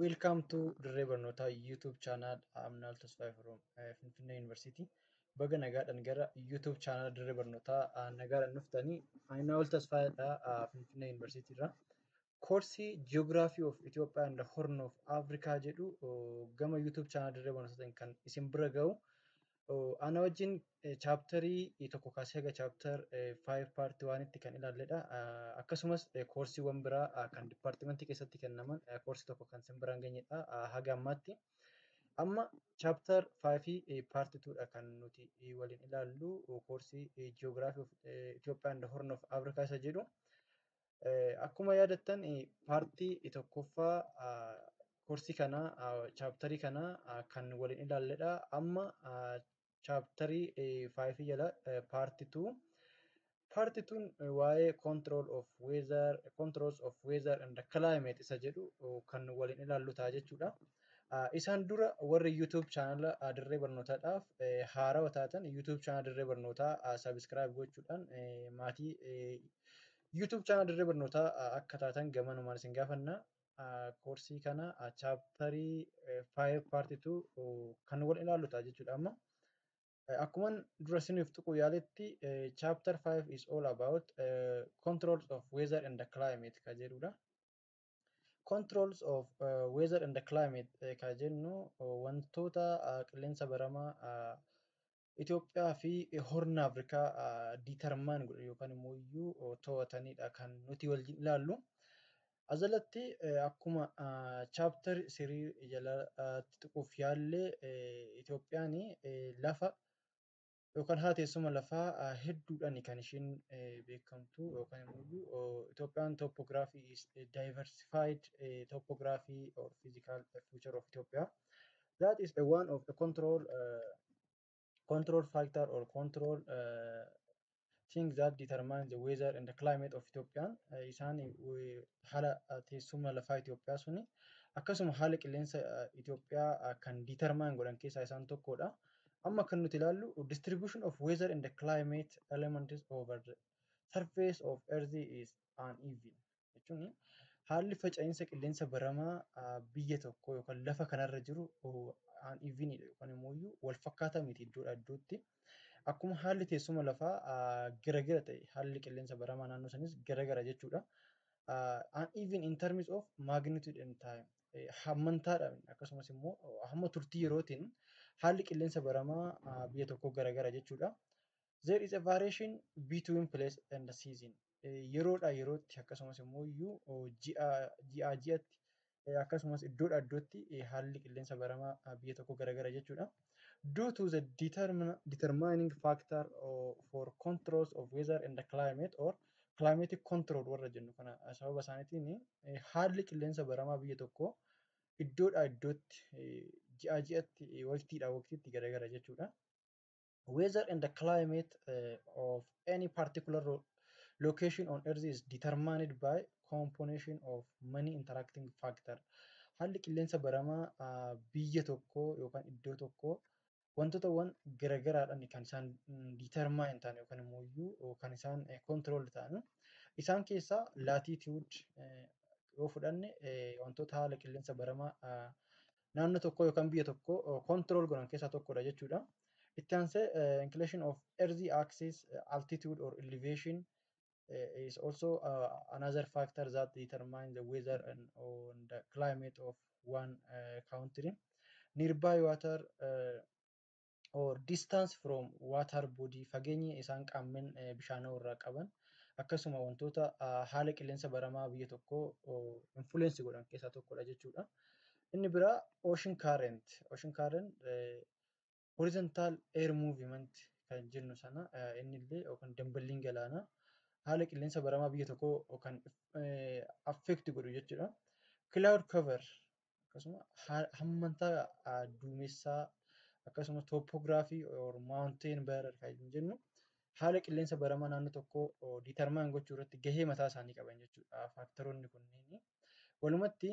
Welcome to Dirree Barnootaa YouTube channel. I'm Naal Tasfaayee from eh, Finfinnee University. Baga nagaadhaan gara YouTube channel Dirree Barnootaa ah, nagaadhaan dhuftanii. Ani Naal Tasfaayee dha ah, Finfinnee University irraa. Koorsii Geography of Ethiopia and Horn of Africa jedhu oh, gama YouTube channel Dirree Barnootaatiin kan isin bira ga'u. Ana wajjin chaaptarii tokko kaasee haga chaaptar 5 paartii waanitti kan ilaalledha. Akkasumas koorsiiwwan biraa kan dipaartimentii keessatti kennaman koorsii tokko kan sin biraan geenyedha haga ammaatti. Amma chaaptar 5 fi paartii 2 dha kan nuti waliin ilaallu koorsii ji'oogiraafii Itoophiyaa and Horn of Afrikaa isa jedhu. Akkuma yaadattan paartii tokkoffaa koorsii kanaa chaaptarii kanaa kan waliin ilaalledha. Amma chaaptarii faayifii jala paartii tuu. Paartii tuun waa'ee control of weather, controls of weather and climate isa jedhu kan waliin ilaallu ta'a jechuudha. Isaan dura warri YouTube chaanala dirree barnootaadhaaf haarawa taatan YouTube chaanala dirree barnootaa sabiskiraayib gochuudhaan maatii YouTube channel dirree barnootaa akka taatan gamanumaan isin gaafanna. Koorsii kana chaaptarii 5 part 2 kan wal ilaallu ta'a jechuudha amma. Akkuma dura isiniif tuquu yaaletti chapter 5 is all about uh, controls of weather and the climate ka jedhudha. Controls of uh, weather and the climate ka jennu wantoota uh, qilleensa baramaa uh, Itoophiyaa fi Horna Afrikaa diitarmaan godhan yookaan immoo iyyuu to'atanidha kan nuti waliin ilaallu. Ajalatti akkuma chaaptar sirii jalatti tuquuf yaalle Itoophiyaan lafa yookaan haala teessuma lafaa hedduudhaan kan ishiin beekamtu yookaan immoo Itoophiyaan topography is diversified topography or physical future of Ethiopia that is a one of the control uh, control factor or control uh, thing that determine the weather and the climate of Ethiopia uh, isaan uh, haala uh, teessuma lafaa Itoophiyaa suni akkasuma haala qilleensa uh, Itoophiyaa uh, kan determine godhan keessaa isaan tokkodha. Amma kan nuti ilaallu distribution of weather and the climate elements over the surface of earth is uneven. jechuun haalli faca'insa qilleensa baramaa biyya tokko yookaan lafa kanarra jiru aan iviinidha yookaan immoo wal fakkaataa miti iddoodha iddootti. Akkuma haalli teessuma lafaa garagara ta'e haalli qilleensa baramaa naannoo sanis garagara jechuudha. Aan iviin in terms of magnitude and time hammantaadhaan akkasumas immoo hamma turtii yerootiin haalli qilleensa baramaa biyya tokkoo garagara jechuudha. There is a variation between place and the season. Yeroodhaa yerootti akkasumas immoo iyyuu ji'aa ji'atti akkasumas iddoodhaa iddootti haalli qilleensa baramaa biyya tokko garagara jechuudha. Due to the determining factor for controls of weather and the climate or climatic control warra jennu kana sababa isaaniitiin haalli qilleensa baramaa biyya tokko iddoodhaa iddootti ji'aa ji'atti waqtiidhaa waqtiitti garagara jechuudha. weather and the climate uh, of any particular location on earth is determined by combination of many interacting factor haalli qilleensa baramaa uh, biyya tokko yookaan iddoo tokko wantootawwan garagaraadhaan kan isaan determine ta'an yookaan immoo iyyuu kan isaan control ta'an isaan keessaa latitude yoo fudhanne wantoota haala qilleensa baramaa naannoo tokkoo yookaan biyya tokkoo control godhan keessaa tokkodha jechuudha. Itti aansee inclination of earthy axis altitude or elevation is also uh, another factor that determine the weather and on the climate of one uh, country. Nearby water uh, or distance from water body fageenya isaan qaammen bishaanoo irraa qaban akkasuma wantoota haala qilleensa baramaa biyya tokko influence godhan keessaa tokkodha jechuudha. Inni biraa ocean current. Ocean current horizontal air movement kan jennu sana inni illee yookaan damballiin galaanaa haala qilleensa baramaa biyya tokkoo kan affect godhu jechuudha. Cloud cover akkasuma hammantaa duumessaa akkasuma toopoogiraafii or maawunteen bearer kan jennu haala qilleensa baramaa naannoo tokkoo diitarmaan gochuu irratti gahee mataa isaanii qaban jechuudha faaktaroonni kunniin. Walumatti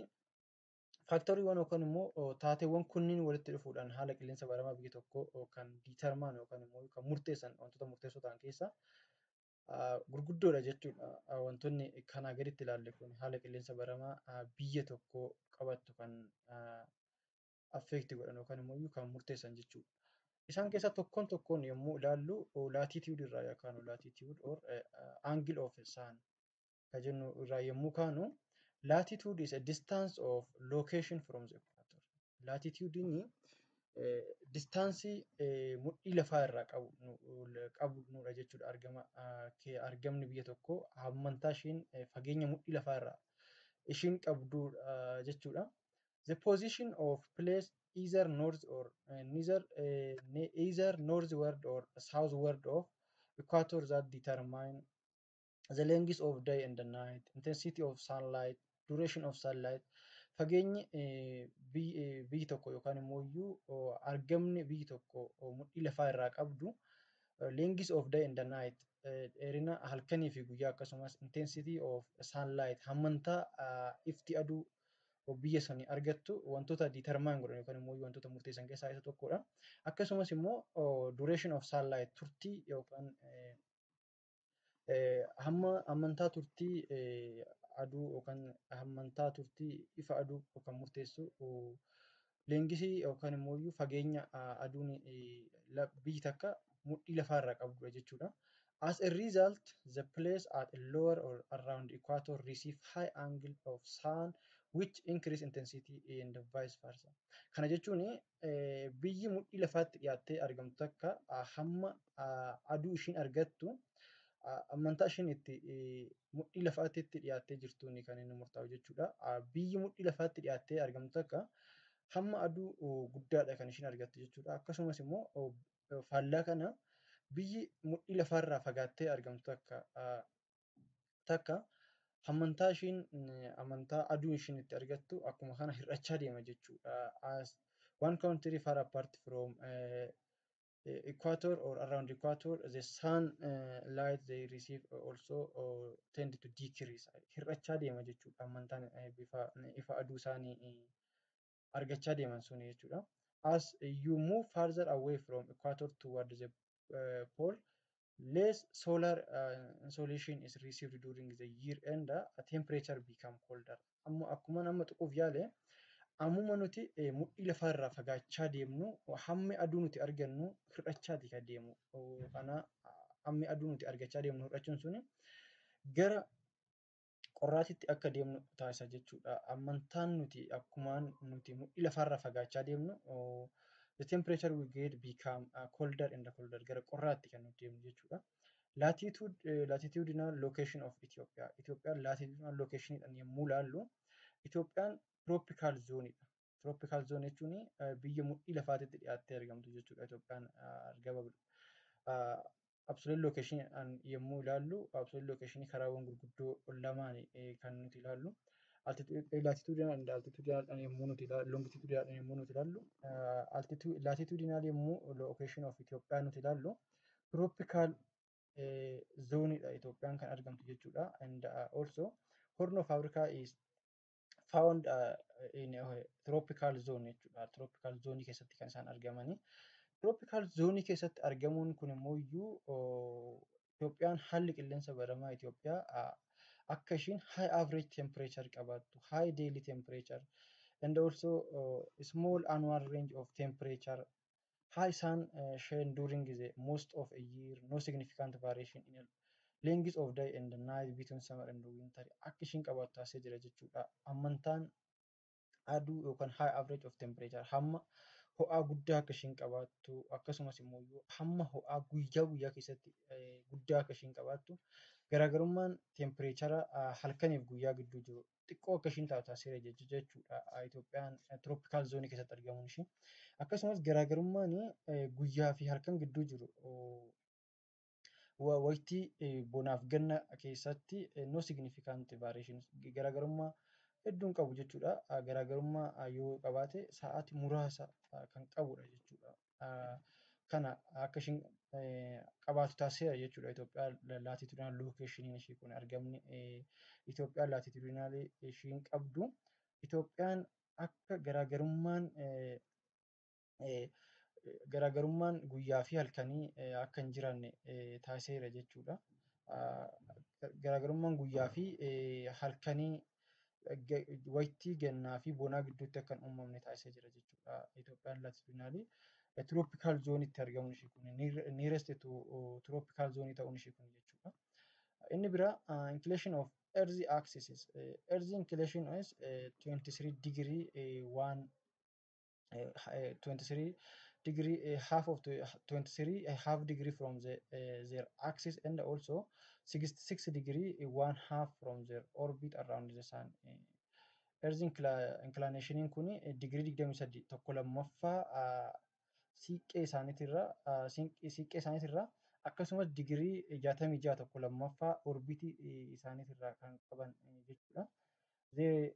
faaktoriiwwan yookaan immoo taateewwan kunniin walitti dhufuudhaan haala qilleensa baramaa biyya tokkoo kan diitarmaan yookaan immoo kan murteessan wantoota murteessoo ta'an keessaa gurguddoodha jechuudha. Wantoonni kanaa gaditti ilaalle kun haala qilleensa baramaa biyya tokko qabattu kan affeekti godhan yookaan immoo kan murteessan jechuudha. Isaan keessaa tokkoon tokkoon yommuu ilaallu laatiitiyuud irraa yookaan laatiitiyuud or angle of sun ka jennu irraa yommuu kaanu latitude is a distance of location from the equator. Latitude'n distaansii mudhii lafaa irraa qabnudha jechuudha. Argama argamni biyya tokkoo hammantaa isheen fageenya mudhii lafaa irraa ishiin qabdudha jechuudha. The position of place either north or uh, neither uh, ne- either northward or southward of equator that determine the length of day and the night intensity of sunlight duration of sunlight fageenyi biyyi tokko yookaan immoo iyyuu argamni biyyi tokko mudhii lafaa irraa qabdu length of day and the night dheerina halkanii fi guyyaa akkasumas intensity of sunlight hammantaa ifti aduu biyya sanii argattu wantoota determine godhan yookaan immoo wantoota murteessan keessaa isa tokkodha. Akkasumas immoo duration of sunlight turtii yookaan Hamma hammantaa turtii aduu yookaan hammantaa turtii ifa aduu kan murteessu leengisii yookaan immoo iyyuu fageenya aduun biyyi takka mudhii lafaa irraa qabdudha jechuudha. As a result, the place at a lower or around equator receive high angle of sun which increase intensity and vice versa. Kana jechuun biyyi mudhii lafaatti dhiyaattee argamtu takka hamma aduu ishiin argattu amantaa ishiin itti mudhii lafaatti itti dhiyaattee jirtuun kan inni murtaa'u jechuudha. Biyyi mudhii lafaatti dhiyaattee argamtu takka hamma aduu guddaadha kan ishiin argattu jechuudha. Akkasumas immoo faallaa kana biyyi mudhii lafaarraa fagaattee argamtu takka takka amantaa ishiin amantaa aduu ishiin itti argattu akkuma kana hir'achaa deema jechuudha. As one country far apart from uh, equator or around equator the sun uh, light they receive also uh, tend to decrease hir'achaa deema jechuudha amantaan uh, bifa ifa aduu isaanii uh, argachaa deeman suni jechuudha. As you move further away from equator toward the uh, pole, less solar uh, insolation is received during the year and uh, temperature become colder. Amma akkuma amma tuquuf yaale ammuma nuti eh, mudhii lafaarraa fagaachaa deemnu hammi aduu nuti argannu hir'achaati kan deemu. Oh, Kana hammi aduu nuti argachaa deemnu hir'achuun suni gara qorraatitti akka deemnu taasisa jechuudha. Ammantaan nuti akkumaan nuti mudhii lafaarraa fagaachaa deemnu the temperature we get become uh, colder and colder gara qorraatti kan nuti deemnu jechuudha. Latitude, uh, latitudinal location of Ethiopia. Itoophiyaan latitudinal locationidhaan yommuu laallu Itoophiyaan tropical zoneidha. Tropical zone jechuun biyya mudhii lafaatitti dhiyaattee argamtu jechuudha Itoophiyaan argaa babal'u. Absolute location yommuu ilaallu absolute location karaawwan gurguddoo lamaan kan nuti ilaallu. Latitudinal and altitudinal yommuu nuti ilaallu longitudinal yommuu nuti ilaallu latitudinal yommuu location of Itoophiyaa nuti ilaallu tropical zoonidha Itoophiyaan kan argamtu jechuudha. And also horn of Africa is found uh, in a tropical zone jechuudha. Tropical zone keessatti kan isaan argamanii. Tropical zone keessatti argamuun kun immoo iyyuu Itoophiyaan haalli qilleensa baramaa Itoophiyaa uh, akka ishiin high average temperature qabaattu, high daily temperature and also uh, small annual range of temperature Haa isaan sheen during the most of a year no significant variation in length of day and night between summer and winter akka ishiin qabaattu taasisee jira jechuudha. Ammantaan aduu yookaan high average of temperature hamma ho'aa guddaa akka ishiin qabaattu akkasumas immoo hamma ho'aa guyyaa guyyaa keessatti guddaa akka ishiin qabaattu garaagarummaan tempireechara halkaniif guyyaa gidduu jiru xiqqoo akka ishiin taatu taasiseera jecha- jechuudha ah, Itoophiyaan eh, tropical zoonii keessatti argamuun ishii. Akkasumas garaagarummaan eh, guyyaa fi halkan gidduu jiru oh, wa- waqtii eh, bonaaf ganna keessatti eh, no significant variations garaagarummaa hedduun qabu jechuudha. Ah, Garaagarummaa ah, yoo qabaate sa'aati muraasa ah, kan qabudha jechuudha. kana akka ishiin qabaatu taasiseera jechuudha. Itoophiyaa laatitudinaal lookeeshiniin ishii kun argamni Itoophiyaa laatitudinaalii ishiin qabdu Itoophiyaan akka garaagarummaan garaagarummaan guyyaa fi halkanii akka hin jiraanne taasiseera jechuudha. Garaagarummaan guyyaa fi halkanii waytii gannaa fi bonaa gidduutti akka hin uumamne taasisee jira jechuudha. Itoophiyaan laatitudinaalii tiroopikaal zoonitti argamuun ishii kun niirest tiroopikaal zoonii ta'uun ishii kun jechuudha. Inni bira inclination of earth axis earth inclination is 23 degree waan 23 degree uh, half of 23 uh, half degree from the, uh, their axis and also 66 degree uh, one half from their orbit around the sun uh, earth incla- inclination kun degree 23 tokko lammaffaa uh, siiqqee isaaniitirra uh, siinq- siiqqee isaaniitirra akkasumas digirii 66 tokko lammaffaa orbitii isaaniitirraa kan qaban uh, jechuudha. They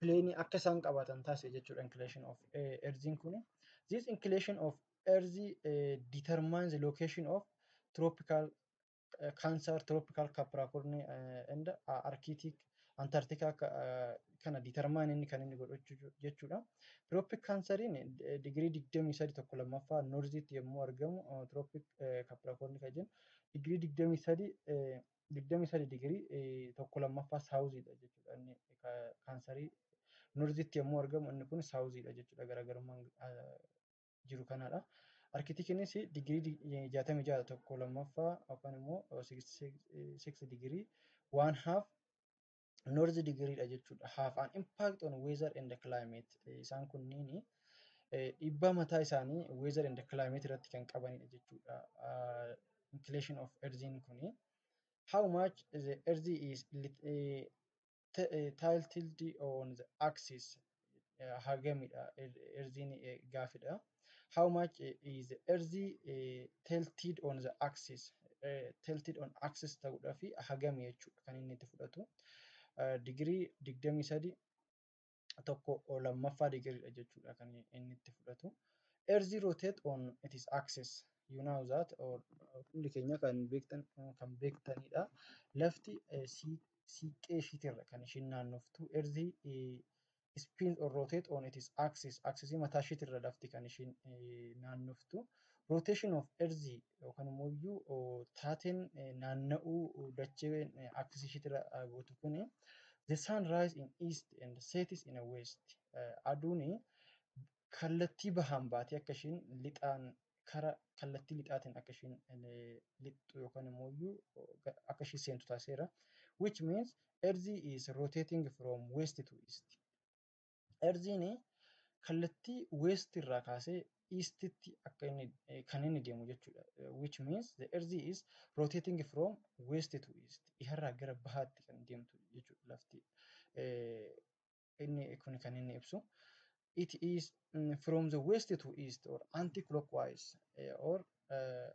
pileenii akka isaan qabaatan taasise jechuudha inclination of erziin kun. This inclination of erzi determines the location of tropical cancer, tropical capricorn and arctic antarctica kana determine inni kan inni godhu jechuudha. Tropic canceriin digirii digdamii sadi tokko lammaffaa norziitti yommuu argamu tropic capricorn kan jennu digirii digdamii sadi digdamii sadii digirii eh, tokko lammaffaa saawuziidha jechuudha inni ka- kaansarii norzitti yommuu argamu inni kun saawuziidha jechuudha garaagarummaan ah, jiru kanaadha. Arkitikinis digirii dig- eh, jaatamii ja'a tokko lammaffaa yookaan immoo eh, six- six- eh, six digirii waan haaf north degree dha jechuudha. Have an impact on weather and climate. Isaan kunniin dhiibbaa mataa isaanii weather and climate irratti kan qabanidha jechuudha. Inclination of earthiin kuni. How much the earth is tilted on the axis. hagamidha erziin gaafidha. How much is erzi tilted on the axis? Tilted on axis ta'uudhaa fi hagami jechuudha kan inni itti fudhatu. Digirii digdamii sadi tokko lammaffaa digiriidha jechuudha kan inni itti fudhatu. Erzi rotate on its axis. You know that or hundi keenya kan beektan kan beektanidha. Lafti siiqqee ishiitirra kan ishiin naannoftu erzi spin or rotate on its axis axis mataa ishiitirra lafti kan ishiin naannoftu rotation of earth yookaan immoo iyyuu taateen naanna'uu dacheen axis ishiitirra gootu kuni the sun rise in east and sets in a west aduun kallattii bahaan baatee akka ishiin lixaan kara kallattii lixaatiin akka ishiin lixxu yookaan immoo akka ishii seentu taasiseera. Which means Earth is rotating from west to east. Earthiin kallattii west irraa kaasee eastitti akka inni kan inni deemu jechuudha. Which means the earth is rotating from west to east. Dhiharraa gara bahaatti kan deemtu jechuudha lafti. inni kun kan inni ibsu it is mm, from the west to east or anti clockwise eh, or eh,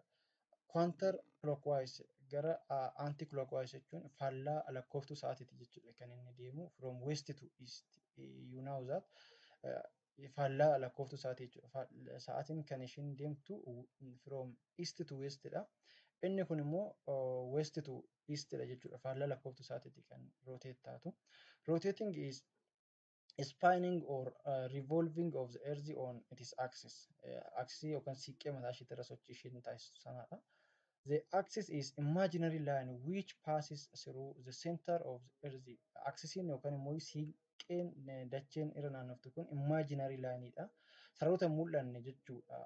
counter clockwise gara ah, anti clockwise jechuun faallaa lakkooftuu sa'aatiiti jechuudha kan inni deemu from west to east Eh, you know that eh, faallaa lakkooftuu sa'aatii jechuudha. Faal- Sa'aatiin kan ishiin deemtu from east to west dha. Inni kun immoo uh, west to east dha jechuudha. Faallaa lakkooftuu sa'aatiitti kan rotate taatu. Rotating is spinning or uh, revolving of the earth on its axis. Uh, axis yookaan siiqqee mataa ishiitti irra sochii ishiin taasistu sanadha. The axis is imaginary line which passes through the center of the earth. Axisiin yookaan immoo sii- Dhoqqeen dacheen irra naannoftu kun imaginary line dha. Saroota hin mul'anne jechuudha.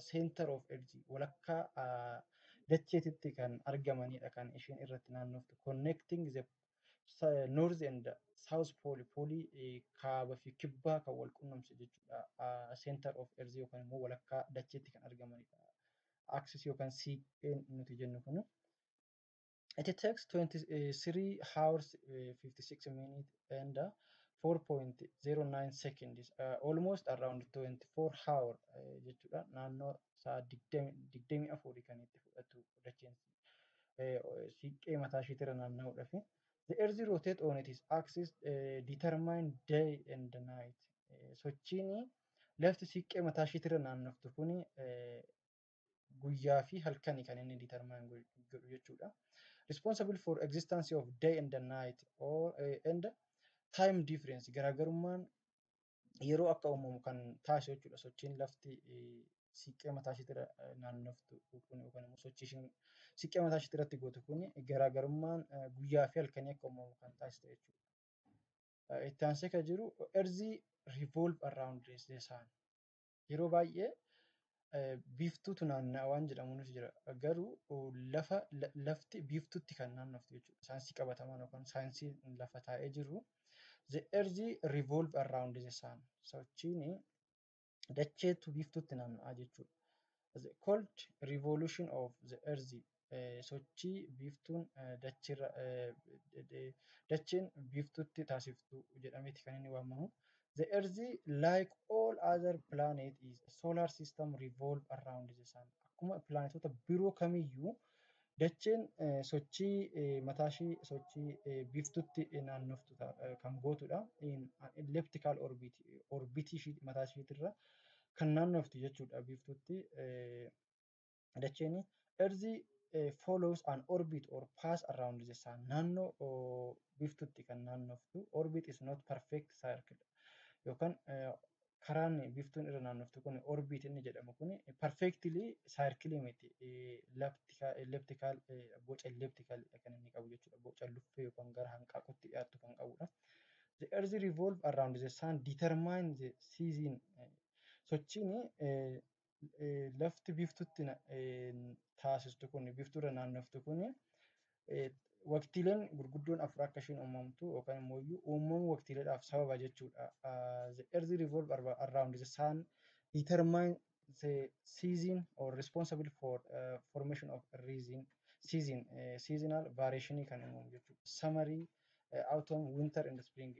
Center of earth walakkaa dacheetitti kan argamanidha kan isheen irratti naannoftu. Connecting the north and south pole poolii kaaba fi kibbaa kan wal qunnamsu jechuudha. Center of earth yookaan immoo walakkaa dacheetti kan argamanidha. Axis yookaan siiqqeen nuti jennu kun. It takes 23 hours, uh, 56 minutes and uh, 4.09 seconds, uh, almost around 24 hour uh, jechuudha. Naannoo sa'a 24 kan itti fudhatu dacheen uh, siiqqee mataa ishiitirra naanna'uudhaaf. The earth rotate on its axis uh, determine day and night. Uh, sochiin lafti siiqqee mataa ishiitirra naannoftu kuni uh, guyyaa fi halkani kan inni determine godhu jechuudha. Responsible for existence of day and the night or eh, and time difference garaagarummaan yeroo akka uumamu kan taasisu jechuudha. Sochiin lafti eh, siiqqee mataa isheetti irra eh, naannoftu kun yookaan immoo sochii ishiin siiqqee mataa isheetti irratti gootu kun garaagarummaan eh, guyyaa fi halkanii akka uumamu kan taasisu jechuudha. Eh, Itti aansee kan jiru erzii revolve around the sun. Yeroo baay'ee biiftuutu naanna'a waan jedhamuunis jira. Garuu lafa lafti biiftuutti kan naannoftu jechuudha. Saayinsii qabatamaan yookaan saayinsii lafa taa'ee jiru the earth revolve around the sun sochiin dacheetu biiftuutti naanna'a jechuudha. The cold revolution of the earth sochii biiftuun dachiirra dacheen biiftuutti taasiftu jedhameeti kan inni waamamu. The Earth, like all other planet is a solar system revolve around the sun. Akkuma pilaanetoota biroo kamiyyuu dacheen sochii mataashii sochii biiftuutti naannoftu kan gootudha. In an elliptical orbit, orbitii mataashiitirra kan naannoftu jechuudha biiftuutti. dacheen erzi follows an orbit or pass around the sun naannoo biftutti kan naannoftu orbit is not perfect circle yookaan karaan biftuun irra naannoftu kun orbit inni jedhamu kun perfectly circle miti elliptical boca elliptical kan inni qabu jechuudha boca luffee yookaan gara hanqaaqutti dhiyaattu kan qabudha. The earth revolve around the sun determine the season sochiin lafti biftutti taasistu kun biftuurra naannoftu kun waqtiileen gurguddoon afur akka ishiin uumamtu yookaan immoo iyyuu uumamuu waqtiileedhaaf sababa jechuudha. The earth revolve around the sun determine the season or responsible for uh, formation of reason season uh, seasonal variation kan uumamu jechuudha. Summary uh, autumn winter and spring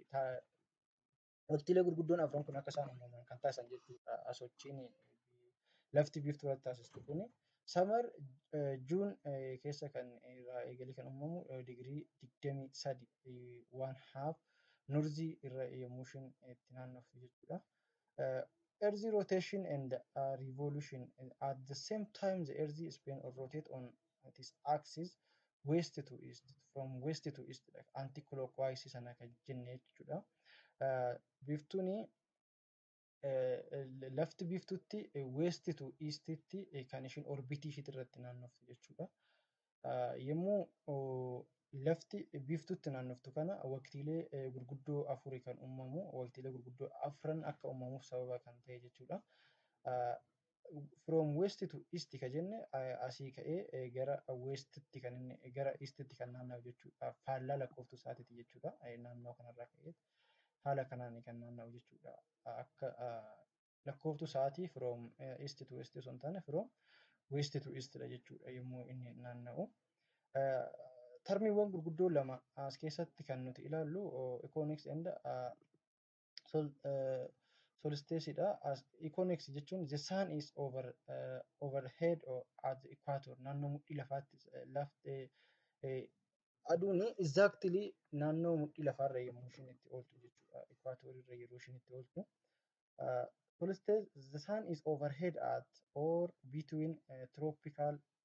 waqtiilee gurguddoon afran kun akka isaan uumaman kan taasisan jechuudha. Sochiin lafti biiftuu irratti taasistu kun samar juun keessa kan irraa eegalee kan uumamu digirii digdamii sadi waan haaf nurzii irra yommuu ishiin itti naannoftu jechuudha. Earth rotation and revolution at the same time the earth spin or rotate on that is axis west to east from west to east dha anti clockwise sana kan jenne jechuudha biiftuun lafti biiftuutti west to east tti kan ishiin orbitii ishiitti irratti naannoftu jechuudha yommuu lafti biiftuutti naannoftu kana waqtiilee gurguddoo afuri kan uumamu waqtiilee gurguddoo afran akka uumamuuf sababa kan ta'e jechuudha from west to east ka jenne asii ka'ee gara westitti kan inni gara eastitti kan naanna'u jechuudha. Faallaa lakkooftuu isaatiiti jechuudha. Naannoo kanarraa ka'ee haala kanaan kan naanna'u jechuudha. Akka lakkooftuu isaatii from east to west osoo hin taane from west to east dha jechuudha yommuu inni naanna'u. Tarmiiwwan gurguddoo lama as keessatti kan nuti ilaallu economics and sol, uh, solstice dha as equinox jechuun the sun is over uh, overhead or at the equator naannoo mudhii lafaatti eh, lafti eh, aduun exactly naannoo mudhii lafaarra yommuu ishiin itti ooltu jechuudha equator irra yeroo ishiin itti ooltu uh, solstice the sun is overhead at or between uh, tropical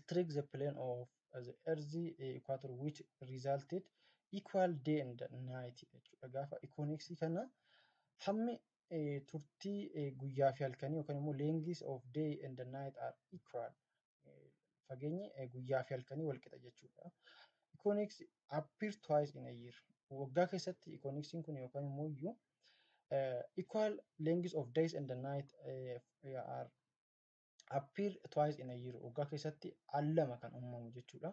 strike the plane of the earth equator which resulted equal day and night jechuudha. Gaafa ikooneksii kana hammi turtii guyyaa fi halkanii yookaan immoo lengths of day and night are equal. Fageenyi guyyaa fi halkanii wal qixa jechuudha. Econex appear twice in a year. Waggaa keessatti ikooneksiin kun yookaan immoo iyyuu equal lengths of days and night are appear twice in a year waggaa keessatti al lama kan uumamu jechuudha.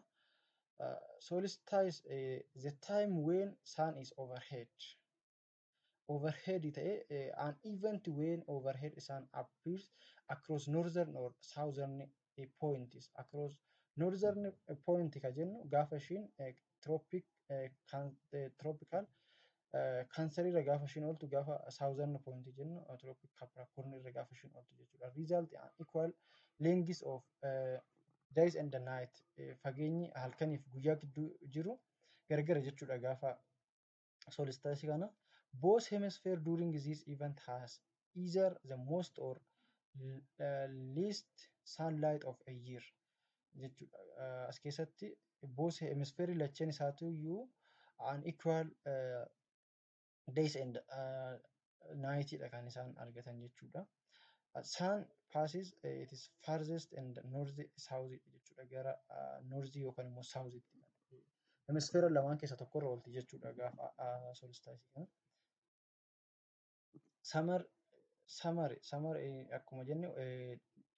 Uh, solstice uh, the time when sun is overhead overhead ta'e uh, an event when overhead sun appears across northern or southern uh, points across northern point ka jennu gaafa ishiin uh, tropical cancer irra gaafa ishiin ooltu gaafa southern point jennu tropic capricorn irra gaafa ishiin ooltu jechuudha. Result an equal length of uh, days and the night fageenyi halkaniif guyyaa gidduu jiru gargara jechuudha gaafa solstice kana both hemisphere during this event has either the most or uh, least sunlight of a year jechuudha. Uh, as keessatti both hemisphere lacheen isaatu iyyuu an equal uh, days and uh, naayitiidha kan isaan argatan jechuudha. Saan paasis it is farthest and north south jechuudha gara northii yookaan immoo southtti hemisfeera lamaan keessa tokko irra oolti jechuudha gaafa solstice kana. Samar samare samare akkuma jenne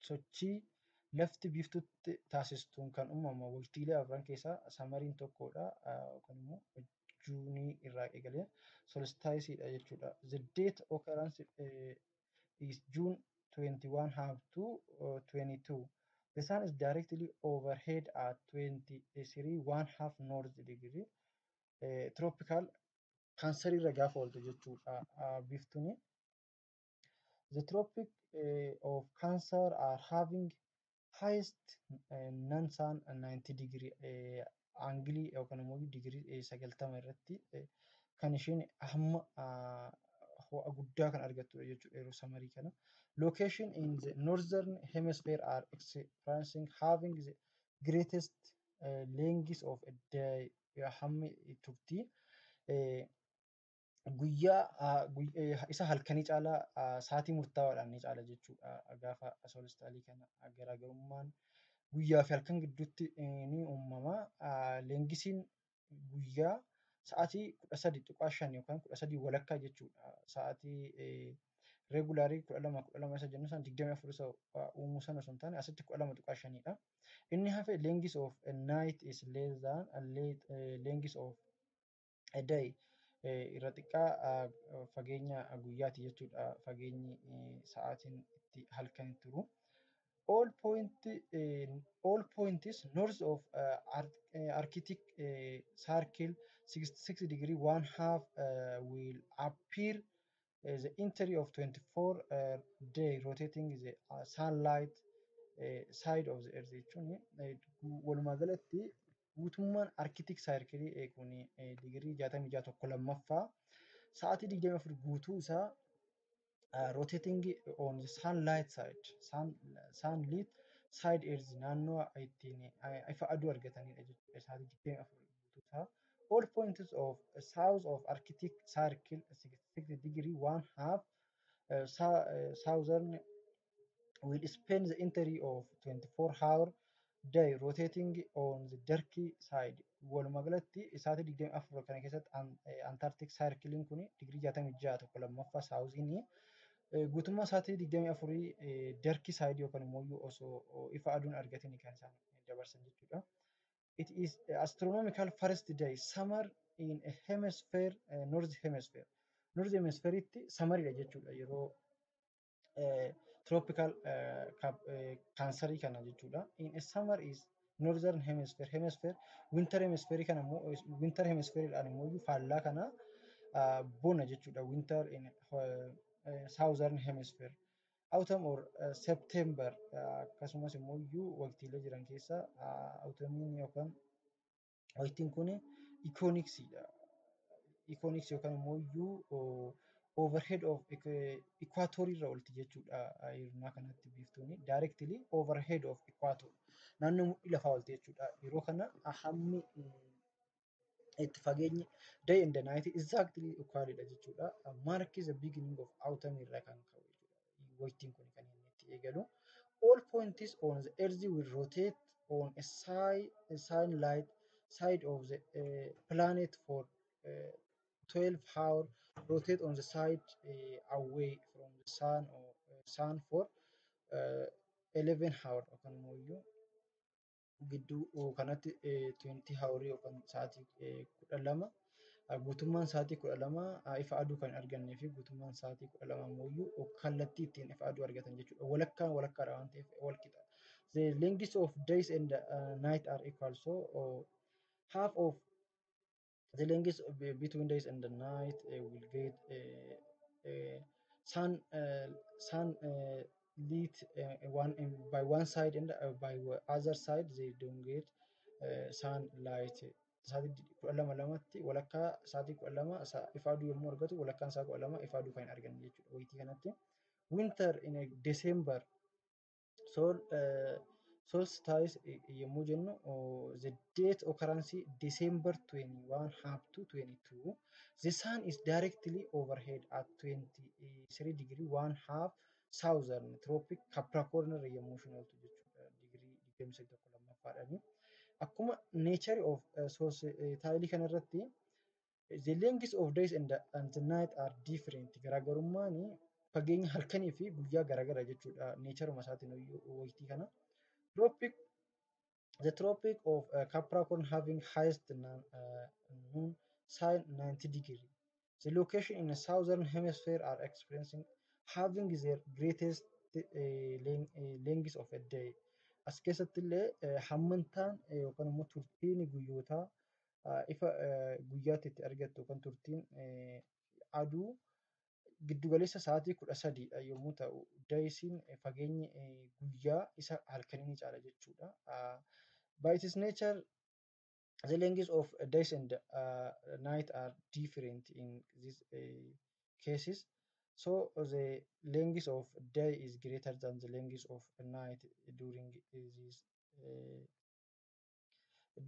sochii lafti biiftutti taasistuun kan uumama waqtiilee afran keessaa samariin tokkodha yookaan immoo Juunii irraa eegalee solstice dha jechuudha. The date occurrence eh, is June 21 half to uh, 22. The sun is directly overhead at 23 one half north degree. Eh, tropical cancer irra gaafa ooltu jechuudha ah, biftuni. The tropic eh, of cancer are having highest nan saan 90 degree aangilii yookaan immoo digirii 90 irratti kan isheen hamma ho'a guddaa kan argattudha jechuudha yeroo samarii kana. Location in the northern hemisphere are experiencing having the greatest uh, length of a day hammi turtii guyyaa isa halkanii caalaa saatii murtaawaadhaan ni caala jechuudha. Gaafa soolistaalii kana garaagarummaan guyyaa fi halkan gidduutti ni uumama. Leengisiin guyyaa sa'aatii kudha sadii tuqaa shan yookaan kudha sadii walakkaa jechuudha. Sa'aatii reegulaarii kudha lama kudha lama isa jennu sana digdamii afur isa uumuu sana osoo hin taane asitti kudha lama tuqaa shanidha. Inni hafe leengis of night is less than length of day irra xiqqaa fageenya guyyaati jechuudha fageenyi sa'aatiin itti halkan turu. All point all points north of arctic circle 66 degree one half will appear the entry of 24 day rotating the sunlight side of the earth jechuun walumaa galatti guutummaan arkitik saayirkilii eeguun digirii 66 tokko lammaffaa sa'aatii 24 guutuu isaa roteetingi on saan laayit saayid saan liit saayid eerzi naannoo ittiin ifa aduu argatanidha jechuudha sa'aatii 24 guutuu isaa all points of south of arctic circle 66 degree one half southern will spend the entry of 24 hour day rotating on the dark side walumaa galatti isaati 24 kana keessatti antarctic circling kun digirii 66 tokko lammaffaa saawuziin guutummaa isaati 24 dark side yookaan immoo osoo ifa aduun argatin kan isaan dabarsan jechuudha. It is astronomical first day summer in a hemisphere uh, north hemisphere north hemisphereitti samaridha jechuudha yeroo tropical kaansarii kana jechuudha. In a summer is northern hemisphere hemisphere winter hemisphere kana immoo winter hemisphere dhaan immoo faallaa kana bona jechuudha winter in southern hemisphere autumn or september akkasumas immoo iyyuu waqtiilee jiran keessa autumn yookaan Waytiin kun ikooniksiidha. Ikooniksii yookaan immoo iyyuu overhead of equator irra olti jechuudha hirnaa kanatti biiftuuni directly overhead of equator naannoo mudhii lafaa olti jechuudha yeroo kana hammi itti fageenyi day and the night exactly equalidha jechuudha mark is the beginning of autumn irra kan ka'u jechuudha waytiin kun kan inni itti eegalu. All points on the earth will rotate on a side, a sunlight side of the uh, planet for uh, 12 hour rotate on the side uh, away from the sun or uh, sun for uh, 11 hour yookaan immoo iyyuu gidduu kanatti tuwentii hawurii yookaan sa'aatii kudha lama guutummaan sa'aatii kudha lama ifa aduu kan hin argannee fi guutummaan sa'aatii kudha lama immoo kallattii ittiin ifa aduu argatan jechuudha. Walakkaan walakkaadha waan ta'eef walqixa. The length of days and uh, night are equal so uh, half of the length of, uh, between days and the night uh, will get uh, uh, sun uh, sun uh, lit uh, one in, by one side and uh, by wa- other side they don't get uh, sun light sa'aatii di- kudha lama lamatti walakkaa sa'aatii kudha lama sa- ifa aduu yommuu argatu walakkaan isaa kudha lama ifa aduu kan hin arganne jechuudha wayitii kanatti winter in a December sool sols taayis yommuu jennu the date occurrence December 21 half to 22 the sun is directly overhead at 23 degree 1 half southern tropic Capricorn irra yommuu isheen ooltu jechuudha digirii 23 lammaffaadhani akkuma nature of sols taayilii kanarratti The length of days and, and night are different. Garaagarummaan fageenya halkanii fi guyyaa garaagara jechuudha. Neecharuma isaatiin waytii kana. Tropic The tropic of uh, Capricorn having highest non, uh, noon sign 90 degree. The location in the southern hemisphere are experiencing having their greatest uh, length, uh, length of a day. As keessatti illee uh, hammantaan uh, yookaan immoo turtiin guyyootaa ifa guyyaatti itti argattu yookaan turtiin aduu giddugaleessa sa'aatii kudha sadiidha yommuu ta'u, dayisiin fageenyi guyyaa isa halkanii ni caala jechuudha. By its nature, the length of days and uh, night are different in these uh, cases. So the length of day is greater than the length of night during these uh,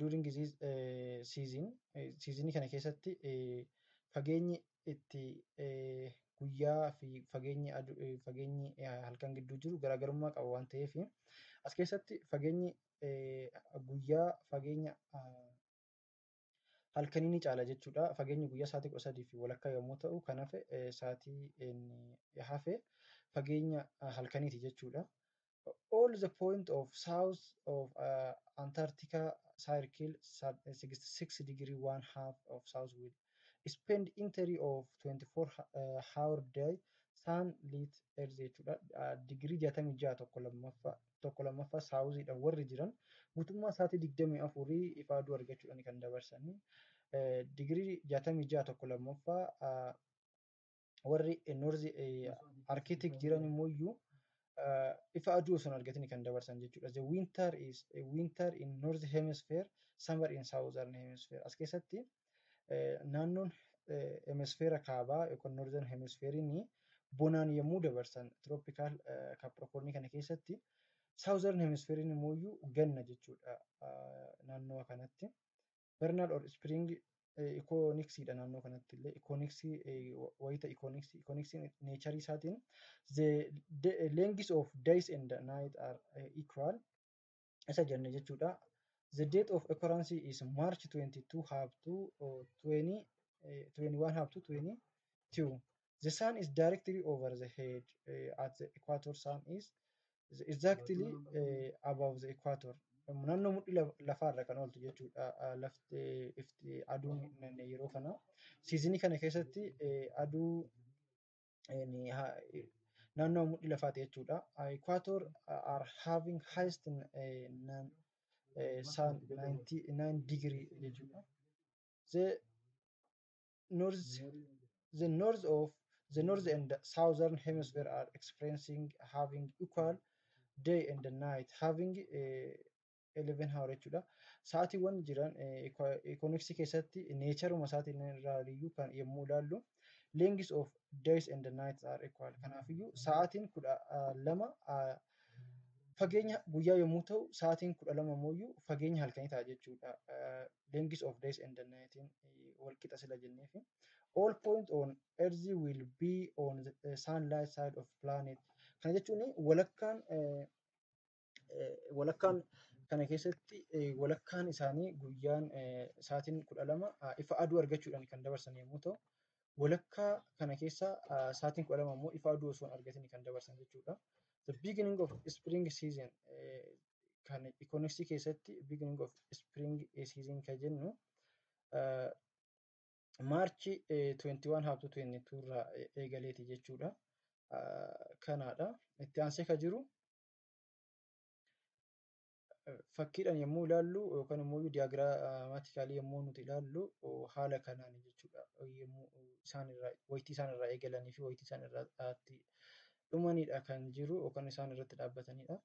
during this eh, season eh, seasonii kana keessatti eh, fageenyi itti eh, guyyaa fi fageenyi adu- eh, fageenyi eh, halkan gidduu jiru garaagarummaa qaba waan ta'eef as keessatti fageenyi eh, guyyaa fageenya ah, halkanii ni caala jechuudha. Fageenyi guyyaa sa'aatii kudha sadii fi walakkaa yommuu ta'u kan hafe sa'aatii hafe fageenya halkaniiti jechuudha. All the point of south of uh, Antarctica circle 66 degree one half of south will spend entry of 24 uh, hour day sun lit earth jechuudha. Digirii 66 tokko lammaffaa tokko lammaffaa saawuziidha warri jiran guutummaa sa'aatii digdamii afurii ifaa aduu argachuudhaan kan dabarsanii digirii jaatamii ja'a tokko lammaffaa warri noorzi arkitik jiran immoo iyyuu ifa aduu osoo hin argatin kan dabarsan jechuudha. The winter is a winter in north hemisphere, summer in southern hemisphere. As keessatti Naannoon hemisfeera kaabaa yookaan northern hemisfeeriin bonaan yommuu dabarsan tropical capricorn kana keessatti southern hemisfeeriin immoo ganna jechuudha naannoo kanatti. Vernal or spring ikooniksiidha naannoo kanatti illee ikooniksii wayita ikooniksii ikooniksiin neecharii isaatiin the length of days and night are equal isa jenne jechuudha. The date of occurrence is March 22 half to uh, 20, eh, 21 half to 22. The sun is directly over the head uh, at the equator. Sun is the- exactly uh, above the equator. Naannoo mudhii laf- lafaarra kan ooltu jechuudha. Uh, Lafti eh, ifti aduun naanna'e yeroo kana. Siizinii kana keessatti eh, aduu naannoo mudhii lafaati jechuudha. Equator are having highest sun 99 degree jechuudha. The north, the north of the north and southern hemisphere are experiencing having equal day and night having uh, 11 hour jechuudha. Sa'aatiiwwan jiran economics keessatti neecharuma isaatiin irraaliyyuu kan yommuu ilaallu lengths of days and nights are equal. Kanaafiyyuu sa'aatiin kudha lama fageenya guyyaa yommuu ta'u sa'aatiin kudha lama immoo fageenya halkanii ta'a jechuudha. Lengths of days and nightiin wal qixa sila jenneefi. All point on earth will be on the sunlight side of planet. Kana jechuun walakkaan walakkaan kana keessatti walakkaan isaanii guyyaan sa'aatiin kudha lama ifa aduu argachuudhaan kan dabarsan yommuu ta'u, walakkaa kana keessa sa'aatiin kudha lama immoo ifa aduu osoo hin argatiin kan dabarsan jechuudha. The beginning of spring season kan ikoonoksii keessatti beginning of spring season kan jennu maarchi 21 haabtuu 22 irraa eegaleeti jechuudha. Kanaadha. Itti aansee kan jiru fakkiidhaan yommuu ilaallu yookaan immoo diyaagiraamaatikaalii yommuu nuti ilaallu haala kanaan jechuudha. Yommuu isaan irraa wayitii isaan irraa eegalanii fi wayitii isaan irraa dhumanidha kan jiru yookaan isaan irratti dhaabbatanidha.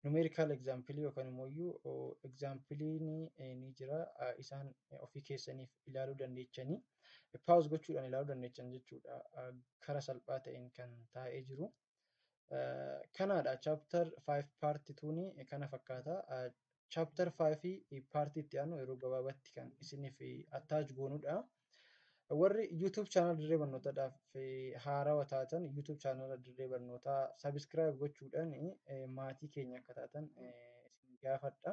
Numeerikaal egzaampilii yookaan immoo egzaampiliin ni jira isaan ofii keessaniif ilaaluu dandeechanii paawuz gochuudhaan ilaaluu dandeechan jechuudha. Karaa salphaa ta'een kan taa'ee jiru. Kanaadha chapter 5 part 2 kana fakkaata. Chapter 5 part itti aanu yeroo gabaabatti kan isiniif attach goonudha. Warri YouTube channel dirree barnootaadhaaf haarawa taatan YouTube channel dirree barnootaa subscribe gochuudhaan maatii keenya akka taatan isin gaafadha.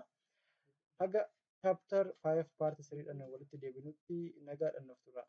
Haga chapter 5 part 3 dhaan walitti deebinutti nagaadhaan nuuf turaa.